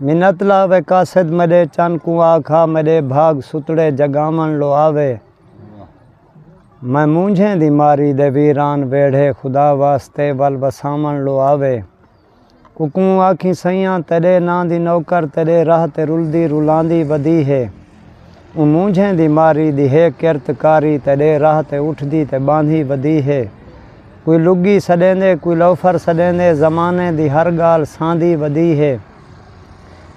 منت لاوے قاصد میݙے چن کوں آکھا میݙے بھاڳ ستڑے جڳاوݨ لو آوے میں مونجھیں دی ماری دے ویران ویڑھے خدا واسطے ول وساوݨ لو آوے اکوں آکھیں سئیاں تیݙے ناں دی نوکر تیݙے راہ تے رلدی رلاندی ودی ہے۔ اوں مونجھیں دی ماری دی ہے کرت کاری تے ݙے راہ تے اٹھدی تے ٻاندھی ودی ہے کوئی لڳی سݙیندے کوئی لوفر سݙیندے زمانے دی ہر ڳالھ ساندھی ودی ہے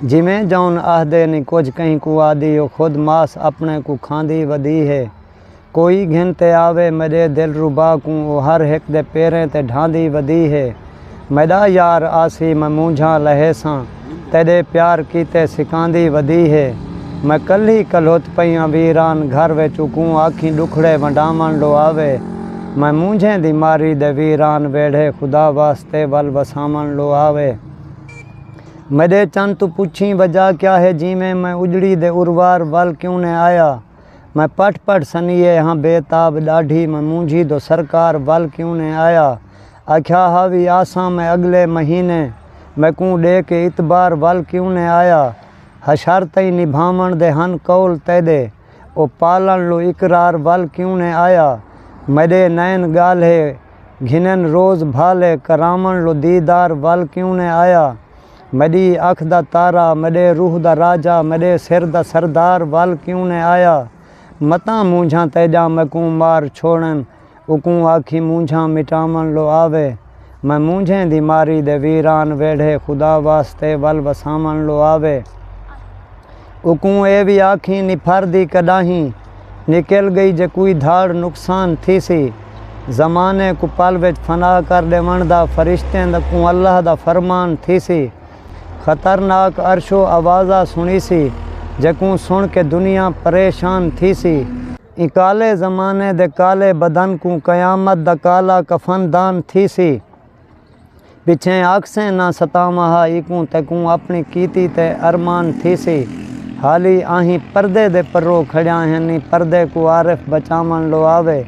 جیویں جون آہدے نی کجھ کہیں کوں آہدی او خود ماس اپݨے کوں کھاندھی ودی ہے۔ کوئی گھن تے آوے میݙے دلربا کوں او ہر ہک دے پیریں تے ڈھاندی ودی ہے میݙا یار آسی میں مونجھاں لہیساں تیݙے پیار کیتے سکاندی ودی ہے میں کلھی کلھت پئیاں ویران گھر وچ اکوں آکھیں ݙکھڑے ونڈاوݨ لو آوے میں مونجھیں دی ماری دے ویران ویڑھے خدا واسطے ول وساوݨ لو آوے میݙے چن توں پچھیں وجہ کیا ہے جیویں میں اجڑی دے اروار ول کیوں نیں آیا۔ میں پٹ پٹ سنیے ہاں بے تاب ڈاڈھی میں مونجھی دو سرکار ول کیوں نے آیا آکھیا ہا وی آساں میں اگلے مہینے میکوں ڈے کے اتبار ول کیوں نے آیا حشر تئیں نبھاون دے ہن قول تیڈے او پالن لو اقرار ول کیوں نے آیا میڈے نین گالھے گھنن روز بھالے کراون لو دیدار ول کیوں نے آیا میݙی اکھ دا تارا، میݙے روح دا راجہ، میݙے سر دا سردار ول کیوں نئیں آیا؟ متاں مونجھاں تیݙاں میکوں مار چھوڑن، اوکوں آکھیں مونجھاں مٹاوݨ لو آوے، میں مونجھیں دی ماری دے ویران ویڑھے خدا واسطے ول وساوݨ لو آوے۔ اوکوں اے وی آکھیں نپھر دی کڈاہیں نکل گئی جے کوئی دھاڑ نقصان تھیسی۔ زمانے کوں پل وچ فنا کر ڈیونڑ دا فرشتیں دا کوں اللہ دا فرمان تھیسی۔ خطرناک عرشو آوازا سنڑیسی جے کوں سنڑ کے دنیا پریشان تھیسی۔ ایں کالے زمانے دے کالے بدن کوں قیامت دا کالا کفن دان تھیسی۔ پچھیں آکھسیں نہ ستاواں ہا ایکوں تیکوں اپݨی کیتی تے ارمان تھیسی حالی آہیں پردے دے پرو کھڑیاں ہنی پردے کوں عارف بچاوݨ لو آوے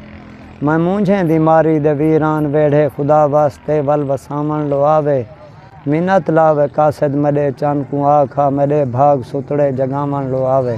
میں مونجھیں دی ماری دے ویران ویڑھے خدا واسطے ول وساوݨ لو آوے منت لاوے قاصد میݙے چن کوں آکھ آ میݙے بھاڳ ستڑے جڳاوݨ لو آوے۔